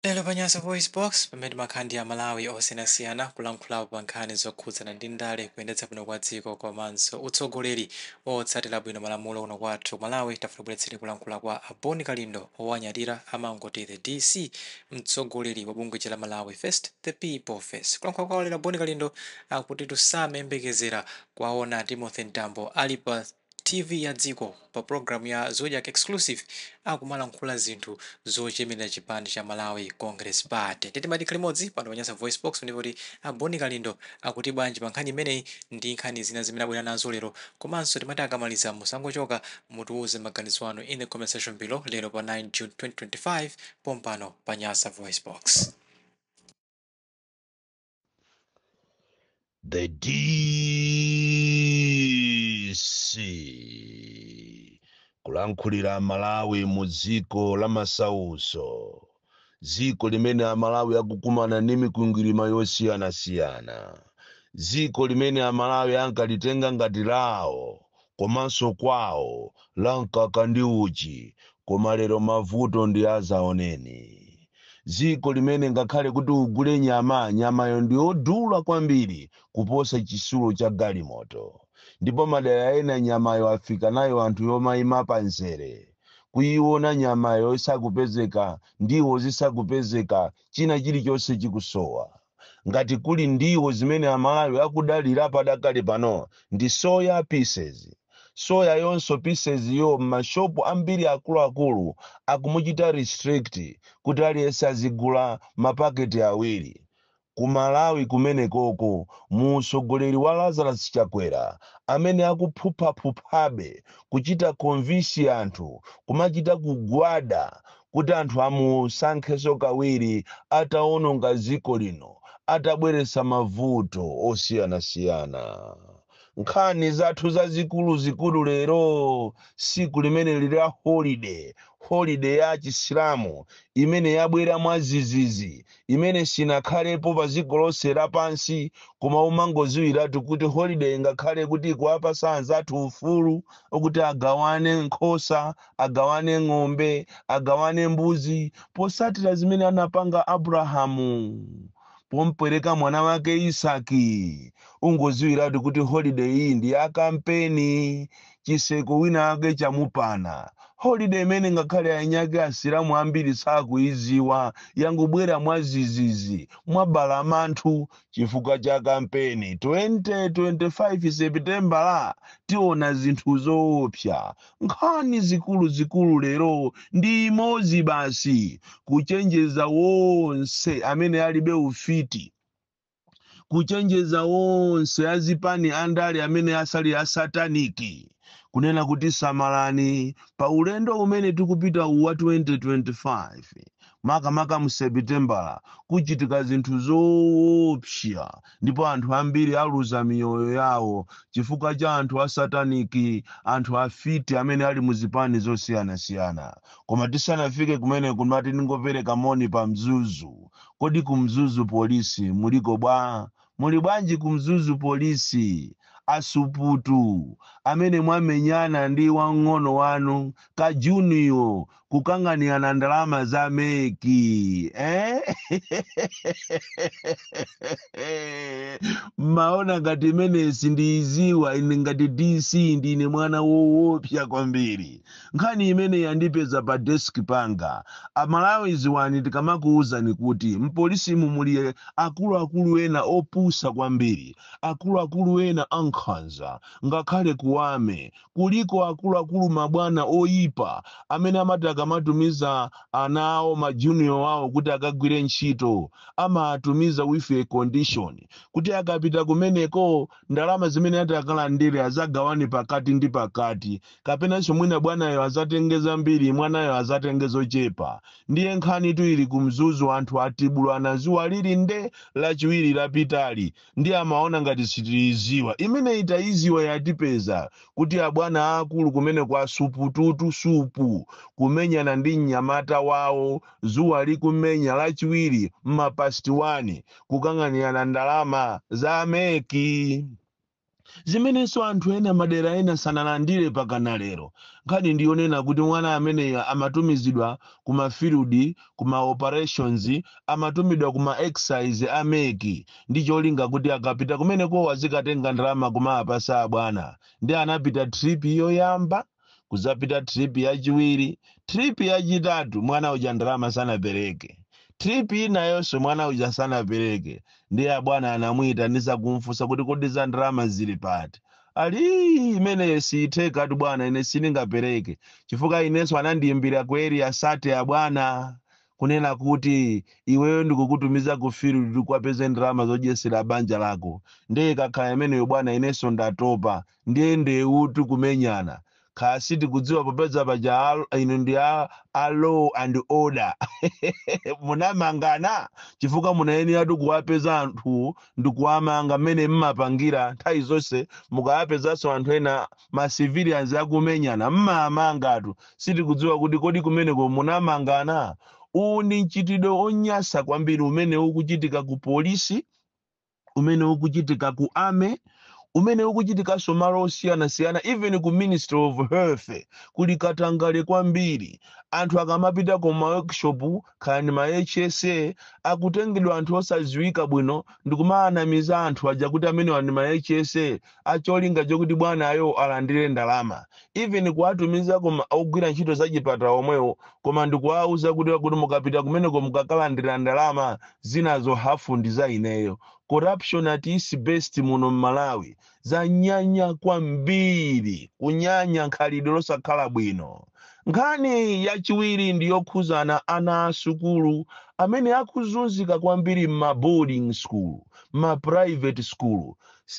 Lero pa Nyasa VoiceBox, pamene timakhala ndi a Malawi osiyanasiyana kulankhulapo pa nkhani zokhudzana ndi ndale, kuyendetsa bwino kwa dziko komanso utsogoleri otsatira bwino malamulo kuno kwathu ku Malawi, tafuna tikubweretsereni kulankhula kwa a Bon Kalindo owanyadira amangoti the DC, mtsogoleri wa bungwe lija la Malawi First, The People First. Kulankhula kwawo lero a Bon Kalindo akuti tusamayembekezera kuwaona a Timothy Mtambo ali pa. TV ya dziko pa program ya Zodiak Exclusive akumalankhula zinthu zochemerera chipani cha Malawi Congress Party. Ndiye timati tikhale limodzi pano pa Nyasa Voicebox ndi kumva kuti a Boni Kalindo akuti bwanji pa nkhani imeneyi ndi nkhani zina zimene abwera nazo lero. Komanso timati akamaliza musangochoka mutiwuze maganizo anu in the comment section below lero pa 9 June 2025 pompano pa Nyasa Voicebox. the DC kulankhulira amalawi mu dziko la masauso dziko limene amalawi akukumana ndi mikwingwirima yosiyanasiyana dziko limene amalawi ankalitenga ngati lawo komanso kwawo la mkaka ndi uchi koma lero mavuto ndi azaoneni dziko limene ngakhale kuti ugule nyama nyamayo ndiyodula kwambiri kuposa chisulo cha galimoto ndipo madera ena nyamayo afika nayo anthu yomaima pa nzere kuyiona nyamayo isakupezeka ndiwo zisakupezeka china chilichonse chikusowa ngati kuli ndiwo zimene amalawi akudalira padakali pano ndi soya pieces. soya yonso pieces yo mma shop ambiri akuluakulu akumuchita restrict kuti aliyense azigula ma packet awiri. ku malawi kumene koko mu utsogoleri wa Lazarus Chakwera amene akuphuphaphuphabe kuchita convince anthu kumachita kugwada kuti anthu amusankhenso kawiri atawononga dziko lino, atabweretsa mavuto osiyanasiyana. Nkhani zathu zazikuluzikulu lero, tsiku limene lili la holide, holide ya Achisilamu imene yabwera mwadzidzidzi, imene sinakhalepo padziko lonse lapansi, koma umangodziwiratu kuti holideyi ngakhale kuti ikuwapatsa anzathu ufulu kuti agawane nkhosa, agawane ng'ombe, agawane mbuzi, posatira zimene anapanga Abrahamu pompereka mwana wake Isaki. Ungoziwiratu kuti holiday iyi ndi ya kampeni, chitseko wina wake chamupana. Holiday imene ngakhale ainyake asilamu ambiri sakuiziwa, yangobwera mwazizizi, mwabalamanthu, chifukwa cha kampeni. 2025 Sepitembala tiona zinthu zoopsa. Nkhani zikuluzikulu lero ndi imodzi basi, kuchenjeza onse amene alibe ufiti, kuchenjeza onse azipani andale amene asali a satanic kunena kuti samalani pa ulendo umene tikupita uwu wa 2025 makamaka mu Sepitembala kuchitika zinthu zoopsa ndipo anthu ambiri aluza miyoyo yawo chifukwa cha anthu a sataniki anthu afiti amene ali mu zipani zosiyanasiyana koma tisanafike kumene kumati ndingopereka moni pa mzuzu kodi ku mzuzu polisi muliko bwa muli bwanji ku mzuzu polisi asuputu amene mwamenyana ndi wang'ono wanu kajuniyo kukang'anirana ndalama za meki eh? mmaona ngati imeneyi sindiyiziwa ine ngati dc ndine mwana woopsa kwambiri nkhani imeneyi yandipeza pa desk panga amalawi ziwani tikamakuwuzani kuti mpolisimu muli akuluakulu ena opusa kwambiri akuluakulu ena ankhanza ngakhale kuwame kuliko akuluakulu mabwana oyipa amene amati akamatumiza ana awo ma junior awo kuti akagwire ntchito amawatumiza with a condition kuti akapita kumeneko ndalama zimene ati akalandire azagawane pakati ndi pakati kapenanso mwina bwanayo azatenge zambiri mwanayo azatenge zochepa ndiye nkhanitu ili ku mzuzu anthu atibulana zuwa lili nde lachiwiri lapitali ndiye amaona ngati sitiiziwa imeneyi taiziwa yatipeza kuti abwana aakulu kumeneko asupututu supu kumenyana ndi mnyamata wawo zuwa likumenya lachiwiri mma past 1 kukang'anirana ndalama za meki zimenenso anthu ena madera ena sanalandire pakana lero. Nkhani ndi yonena kuti mwana ameneyu amatumizidwa ku ma field, ku ma operations, amatumidwa ku ma exercise a mec ndi cholinga kuti akapita kumenekowo azikatenga ndalama kumawapatsa abwana. Ndiye anapita trip yoyamba. kudzapita trip yachiwiri trip yachitatu mwana uja ndalama sanapereke trip inayonso mwana uja sanapereke ndiye abwana anamuyitanisa kumfunsa kuti kodi za ndalama zili pati ali imeneyo siyithekatu bwana ine sindingapereke chifukwa inenso anandiyimbira ku area 30 abwana kunena kuti iweyo ndikukutumiza ku field kuti ukapeze ndalama zodyesera banja lako ndiye ikakhala imeneyo bwana inenso ndatopa ndiye ndewutu kumenyana kaya sitikudziwa popeza paja inu ndi a, a law and order munamangana chifukwa munayenera kuwapeza anthu ndi kuwamanga mmene mmapangira nthawi zonse mukawapezanso anthu ena ma civilians akumenyana mmamangatu sitikudziwa kuti kodi kumeneko munamangana uwu ndi mchitidwe onyasa kwambiri umene ukuchitika ku polisi umene ukuchitika ku army umene ukuchitikanso malo osiyanasiyana even ku ministry of health kuli katangale kwambiri anthu akamapita ku ma workshop kaya ndi ma hsa akutengedwa anthu osadziwika bwino ndikumaanamiza anthu aja kuti amenewa ndi ma hsa a cholinga chokuti bwanayo alandire ndalama even kuwatumiza kwa ogwira ntchito za chipatala omwewo koma ndikuwauza kuti kuti mukapita kumeneko mukakalandira ndalama zinazo hafu ndi za ineyo corruption at its best muno mmalawi zanyanya kwambiri kunyanya nkhalidwe losakhala bwino nkhani yachiwiri ndi yokhuzana ana a sukulu amene akuzunzika kwambiri mma boarding school ma private school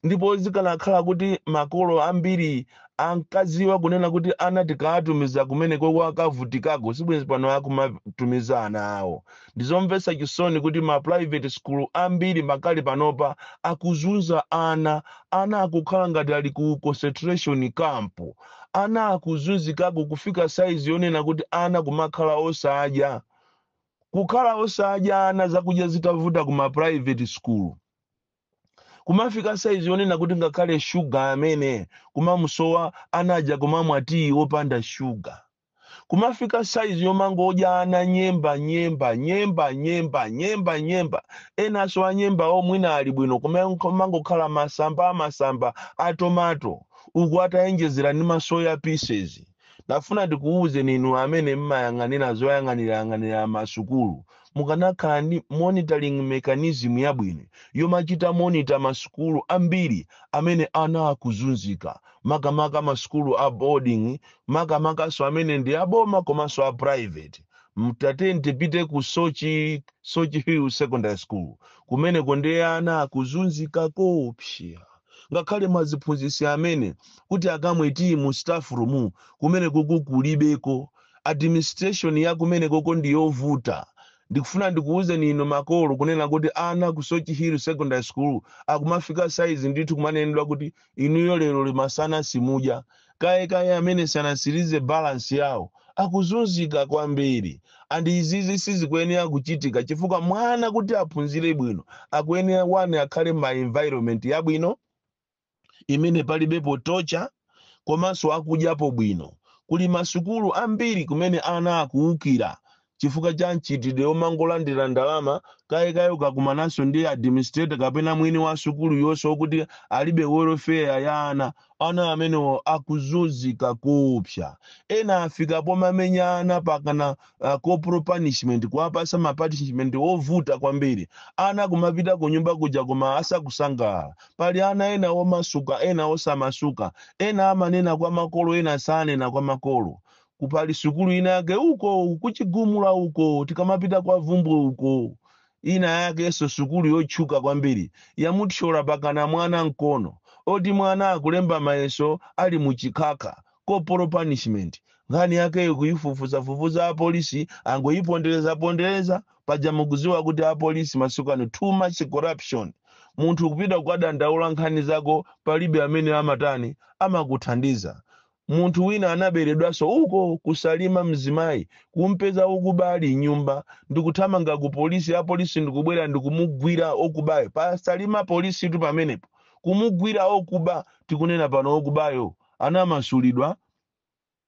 ndipo zikanakhala kuti makolo ambiri ankadziwa kunena kuti ana tikawatumiza kumenekoko akavutikako sibwenzi pano akumatumiza ana awo ndizomvetsa chisoni kuti ma private school ambiri makali panopa akuzunza ana ana akukhala ngati ali ku concentration camp ana akuzunzikako kufika saizi yonena kuti ana kumakhala osadya kukhala osadya ana zakudya zitavuta ku ma private school kumafika saizi yonena kuti ngakhale shuga amene kumamusowa anaja kumamwa tiyi wopanda shuga kumafika saizi yomangodya ana nyemba nyemba nyemba nyemba nyemba nyemba enanso anyembawo mwina ali bwino koma kumangokhala masamba amasamba atomato uku atayenjezera ndi masoya pieces Ndafuna ndikuwuzeni inu amene mmayang'anira zoyang'anirayang'anira masukulu, mukanakhala ndi monitoring mechanism yabwino yomachita monitor masukulu ambiri amene ana akuzunzika, makamaka masukulu a boarding, makamakanso amene ndi a boma komanso a private. Tatiyeni tipite ku Soche, Soche Hill Secondary School, kumeneko ndiye ana akuzunzika koopsa. ngakhale maziphunzitsi amene kuti akamwe tiyi mu staff room kumenekoko kulibeko administration ya kumenekoko ndi yovuta ndikufuna ndikuwuzeni inu makolo kunena kuti ana ku soche hill secondary school akumafika size ndithu kumanenedwa kuti inuyo leroli masana simudya Kaye kaye amene sanasilize balance yawo akuzunzika kwambiri and izizi sizikuyenera kuchitika chifukwa mwana kuti aphunzire bwino akuyenera wane akhale ma environment yabwino imene palibepo torture komanso akudyapo bwino. Kuli masukulu ambiri kumene ana akuwukira chifukwa cha mchitidwe womangolandira ndalama, kaye kaye ukakumananso ndi administrator kapena mwini wa sukulu yoseyo woti alibe welfare ya ana, ana amenewo akuzunzika koopsa. Ena afika pomamenya ana pakana uh, corporal punishment, kuwapasa ma punishment ovuta kwambiri. Ana kumapita kunyumba kuja koma asakusangalala. Pali ana ena omasuka, ena osamasuka, ena amanena kwa makolo, ena sanena kwa makolo. ku pali sukulu ina yake uko kuchigumula uko tikamapita kwa vumbwe uko ina yakenso sukulu yotchuka kwambiri yamuthyola pakana mwana mkono oti mwana akulemba mayeso ali mu chikhakha corporal punishment nkhani yakeyo kuyifufuzafufuza apolisi angoyiponderezapondereza paja mukuziwa kuti apolisi masiku ano too much corruption munthu kupita kukadandaula nkhani zako palibe amene amatani amakuthandiza Munthu wina anaberedwaso uko ku Salima mzimayi kumpeza okuba ali mnyumba ndikuthamanga ku police apolice ndikubwera ndikumugwira okubayo pa Salima police tu pamenepo kumugwira okuba tikunena pano okubayo anamasulidwa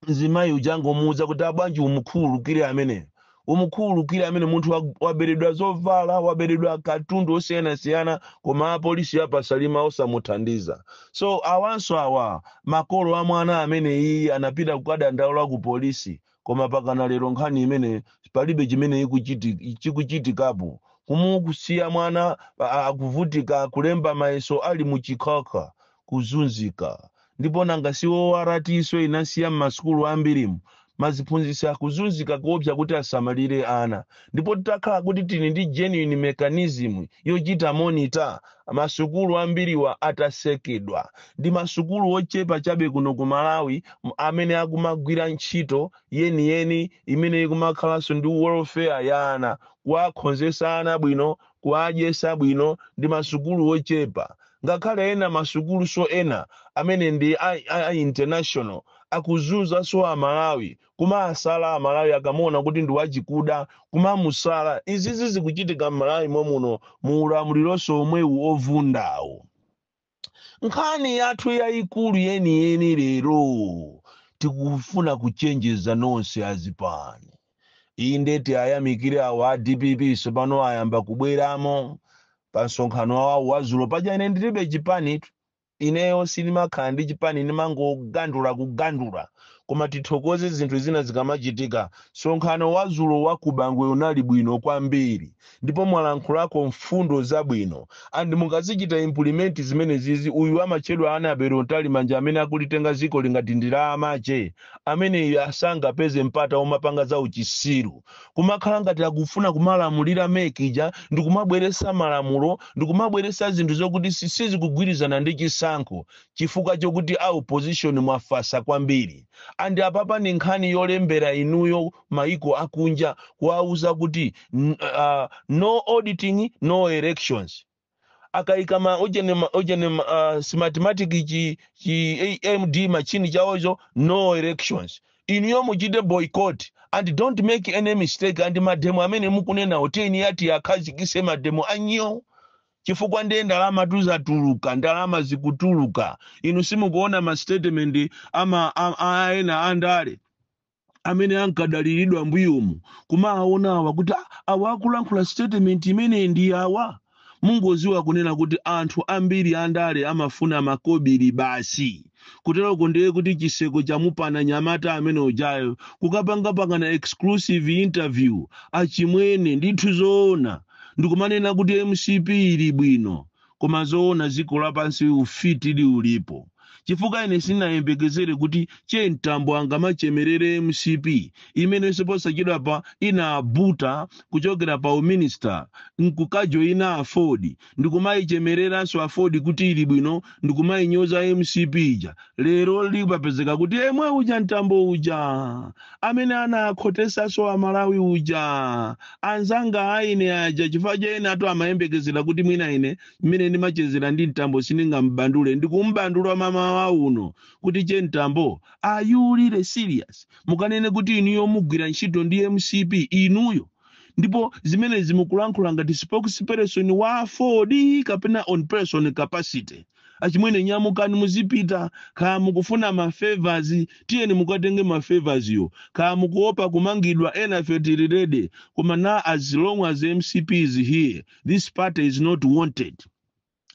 mzimayi uja angomuwuza kuti abwanji umukhululukire ameneyo umukhululukire amene munthu wa- waberedwa zovala waberedwa katundu osiyanasiyana koma apolisi apasalima osamuthandiza so awanso awa makolo a mwana ameneyi anapita kukadandaula ku polisi koma pakana lero nkhani imeneyi palibe chimene ikuchiti- chikuchitikapo kumusiya mwana a- a- akuvutika kulemba mayeso ali mu chikhakha kuzunzika ndipo nanga si Walati so inasiya m'masukulu ambirimu maziphunzitsi akuzunzika koopsa kuti asamalire ana ndipo titakhala kuti tili ndi genuine mechanism yochita monitor masukulu ambiriwa atasekedwa ndi masukulu ochepa chabe kuno ku Malawi m- amene akumagwira ntchito yeniyeni imene ikumakhalanso ndi welfare ya ana kuwakhonzesa ana bwino kuwadyesa bwino ndi masukulu ochepa ngakhale ena masukuluso ena amene ndi a, a, a international akuzunza so amalawi kumaasala amalawi akamuona kuti ndi wachikuda kumamusala izizi zikuchitika mmalawi momuno mu ulamuliroso omwewu ovundawo Nkhani yathu yayikulu yeniyeni lero tikufuna kuchenjeza nonse azipani. Inde tiayamikire awa a dpp tsopano ayamba kubweramo pa msonkhano wawo wazulo paja ine ndilibe chipanitu. ineyo sindimakhala ndi chipani ndimangogandula kugandula koma tithokoze zinthu zina zikamachitika msonkhano wazulo wa kubangwe unali bwino kwambiri ndipo mwalankhulako mfundo zabwino and mukazichita implement zimenezizi uyu amatchedwa Annabel Mtalimanja amene akulitenga dzikoli ngati ndi la amache ameneyu asangapeze mpata omapanga za uchisiru kumakhala ngati akufuna kumalamulira mec ija ndikumabweretsa malamulo ndikumabweretsa zinthu zokuti si- sizikugwirizana ndi chisankho chifukwa chokuti a opposition mwafatsa kwambiri and apapa ndi nkhani yolembera inuyo mayiko akunja kuwauza kuti n- ah, no auditing no elections akaika ma ujeni ma- ujeni ma- ah, smartmatic chi chi EMD machine chawocho no elections inuyo muchite boycott and don't make any mistake and mademo amene mukunenawo tiyeni ati akhazikitse mademo ano chifukwa ndiye ndalama zizatuluka ndalama zikutuluka inu simukuona ma statement ama a- a- ena andale amene ankadaliridwa mbuyomu kumaawona awa kuti "Ah, awa akulankhula statement imeneyi ndi awa mungodziwa kunena kuti anthu ambiri andale amafuna makobiri basi kuteroko ndiye kuti chiseko chamupana mnyamata amene ujayo kukapangapanga exclusive interview achimwene ndithu zoona ndikumanena kuti mcp ili bwino koma zoona dziko lapansi ufiti uli ulipo chifukwa ine sinayembekezere kuti che mtambo angamachemerere mcp amenenso posachedwapa anabuta kuchokera pa uminista nkukajoyina aford ndikumayichemereranso aford kuti ili bwino ndikumayinyoza mcp ija lero likupezeka kuti yemwe uja mtambo uja amene anakhotetsanso a Malawi uja anzanga a ine aja chifukwa choti enatu amayembekezera kuti mwina ine mmene ndimachezera ndi mtambo sindingamubandule ndikumubandula mmamawa uno kuti che mtambo are you really serious mukanene kuti inuyo mugwira ntchito ndi mcp inuyo ndipo zimenezi mukulankhula ngati spokesperson wa aford kapena on person capacity achimwene nyamukani muzipita kaya mukufuna ma favours tiyeni mukatenge ma favours yo kaya mukuopa kumangidwa enafe tili ready koma na as long as mcp is here this party is not wanted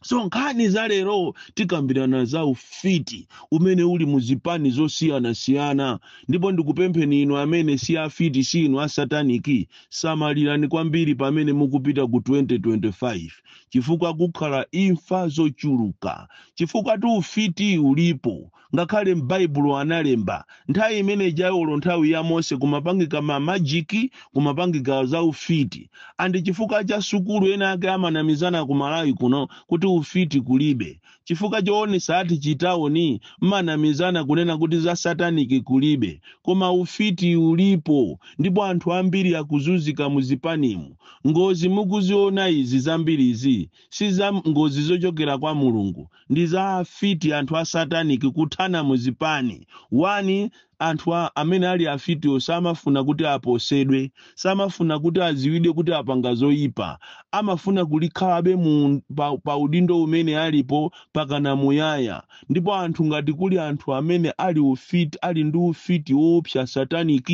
so nkhani za lero tikambirana za ufiti umene uli mu zipani zosiyanasiyana ndipo ndikupempheni inu amene si afiti si inu asataniki samalirani kwambiri pamene mukupita ku 2025 chifukwa kukhala imfa zochuluka chifukwatu ufiti ulipo ngakhale m'baibulo analemba nthawi imene ijayo olo nthawi ya mose kumapangika ma majiki kumapangika za ufiti ati chifukwa cha sukulu ena ake amanamizana ku malawi kuno kuti ufiti kulibe chifukwa choonesa ati chitaoni mmanamizana kunena kuti za satanic kulibe koma ufiti ulipo ndipo anthu ambiri akuzuzika mu zipanimu ngozi mukuziona izi zambirizi si za ngozi zochokera kwa mulungu ndi za afiti anthu a satanic kuthana mu zipani one Anthu a, amene ali afitiwo samafuna kuti aposedwe, samafuna kuti adziwidwe kuti apanga zoyipa. Amafuna kuti akhalebe mu, pa, pa udindo umene alipo mpakana muyaya. Ndipo anthu ngati kuli anthu amene ali ufit, ali ndi ufiti woopsa satanic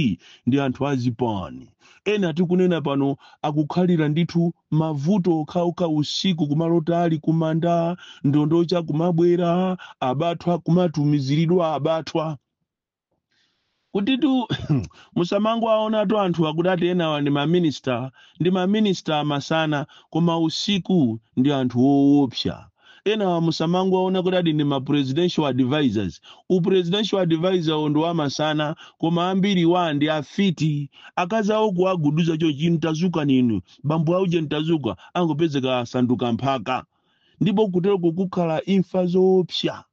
ndi anthu a zipani. Ena tikunena pano akukhalira ndithu mavuto okhaokha usiku kumalota ali kumanda, ndondocha kumabwera, abathwa kumatumiziridwa abathwa. Kutitu musamangowaonatu anthu akuti ati enawa ndi ma minister, ndi ma minister amasana koma usiku ndi anthu oopsa. enawa musamangowaona kuti ati ndi ma presidential advisors u presidential advisorwo ndi wamasana koma ambiriwa ndi afiti akazi awo kuwaguduza chochi mtadzuka ndinu bambo auje mtadzuka angopezeka asanduka mphaka ndipo kuteroko kukhala imfa zoopsa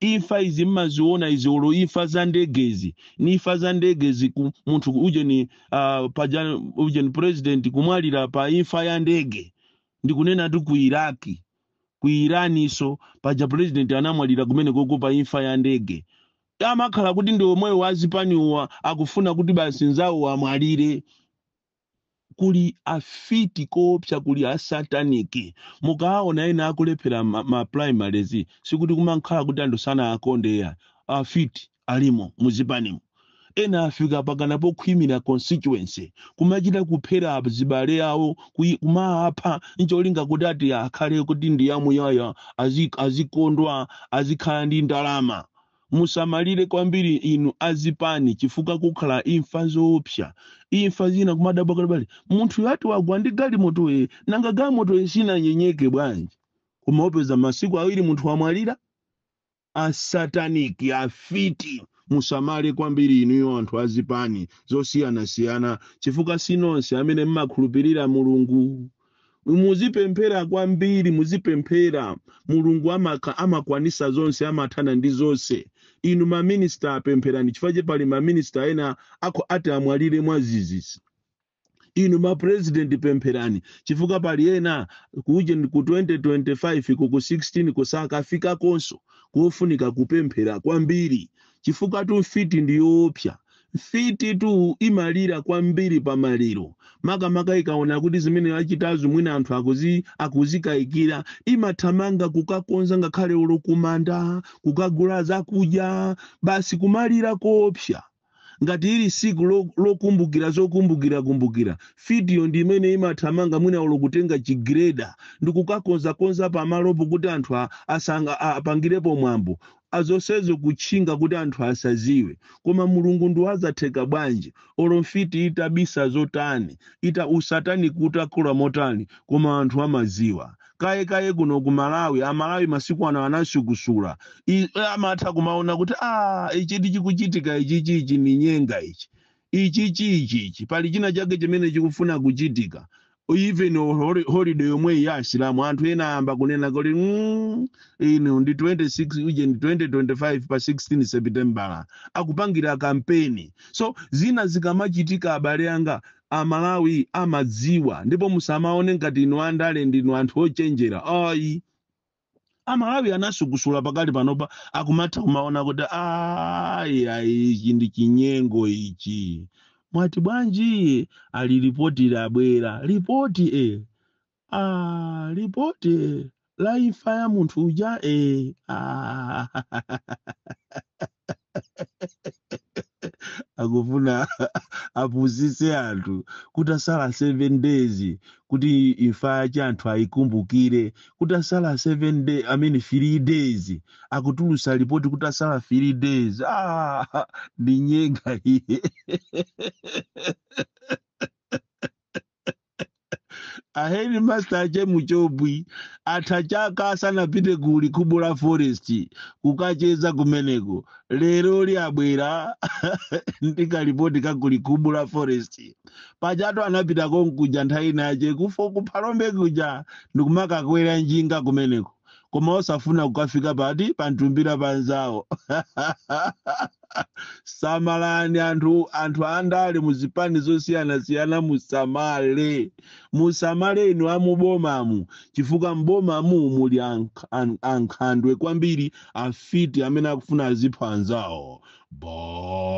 Imfa izi mmaziona izi olo imfa za ndegezi ni imfa za ndegezi munthu ujeni uh, paja ujeni president kumwalira pa imfa ya ndege ndikunenatu ku Iraki ku Iraniso paja president anamwalira kumene koko pa imfa ya ndege amakhala kuti ndi omwewo azipaniwa akufuna kuti basi nzawo amwalire kuli afiti koopsa kuli a satanic mukaawona ena akulephera ma, ma primaries sikuti kumakhala kuti anthu sanaakonde ayi afiti alimo muzipanimu ena afika mpakana pokhwimira constituency kumachita kuphera azibale awo kuyi- kumaapha ncholinga kuti ati akhale kuti ndi yamuyaya azi- azikondwa azikhala ndi ndalama Musamalire kwambiri inu a zipani chifukwa kukhala imfa zoopsa. Imfa zina kumadabwa kuti pali munthuyo ati wagwa ndi galimoto ee nanga galimotoyo sinanyenyeke bwanji? Kumangopeza masiku awiri munthu wamwalira? A satanic, afiti. Musamale kwambiri inuyo anthu a zipani zosiyanasiyana chifukwa si nonse amene mmakhulupirira Mulungu. muzipemphera kwambiri muzipemphera mulungu amakha amakwanisa zonse amathana ndi zonse inu maminista a pempherani chifukwa che pali maminista ena akho ati amwalire mwazizizi inu mapurezidenti pempherani chifukwa pali ena ku uje ku 2025 ku ku 16 ku sakafikakonso kofunika kupemphera kwambiri chifukwatu mfiti ndiyoopsa Mfititu imalira kwambiri pa maliro, makamaka ikaona kuti zimene yachitazo mwina anthu akuzi, akuzikayikira. Imathamanga kukakonza ngakhale olo kumanda, kukagula zakudya, basi kumalira koopsa. Ngati ili tsiku lo- lokumbukira zokumbukirakumbukira, mfitiyo ndi imene imathamanga mwina olo kutenga chigireda ndi kukakonzakonza pamalopo kuti anthu a- asanga, a- apangirepo mwambo. a zonsezo kutchinga kuti anthu asaziwe koma mulungu ndi wa zatheka bwanji olo mfiti itabisa zotani ita usatanic utakula motani koma anthu amaziwa kaye kaye kuno ku malawi amalawi masiku ano anasukusula I- amatha kumaona kuti a ichitu chikuchitika ichichi ichi ni nyenga ichi ichichi ichichi pali china chake chimene chikufuna kuchitika even holi- holiday yomweyi ya asilamu anthu ena ayamba kunena kuti mm, inu ndi 26 uje ndi 2025 pa 16 sepitembala akupangira kampeni so zina zikamachitika abale anga amalawi amadziwa ndipo musamaone ngati inu andale ndinu anthu ochenjera ayi amalawi anasukusula pakali panopa akumatha kumaona kuti ayi ayi ichi ndi chinyengo ichi mwati bwanji ali ripoti labwera ripoti e ah, ripoti e la imfa ya munthu uja e ah. akufuna apusise anthu kutasala 7 days kuti imfa yache anthu ayikumbukire kutasala 7 day, I mean 3 days akutulusa lipoti kutasala 3 days ah, ndi nyenga iye a headmaster ache muchobwi atha chaka asanapite ku likhubula forest kukacheza kumeneko leroli abwera ndi kalipoti ka ku likhubula forest pajatu anapita konkuja nthawi inache kufo kuphalombe kuja ndikumakakwera njinga kumeneko koma osafuna kukafika pati pa mtumbira pa nzawo samalani anthu anthu andale muzipani zosiyanasiyana musamale musamale inu amubomamu chifukwa mbomamu muli ankh- an- ankhandwe kwambiri afiti amene akufuna azipha anzawo bon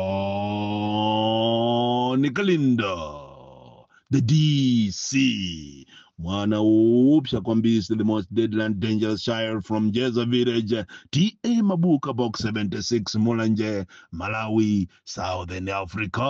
kalindo the dc mwana woopsa kwambiri the most deadly and dangerous child from jeza village ta mabuka box 76 mulanje malawi southern africa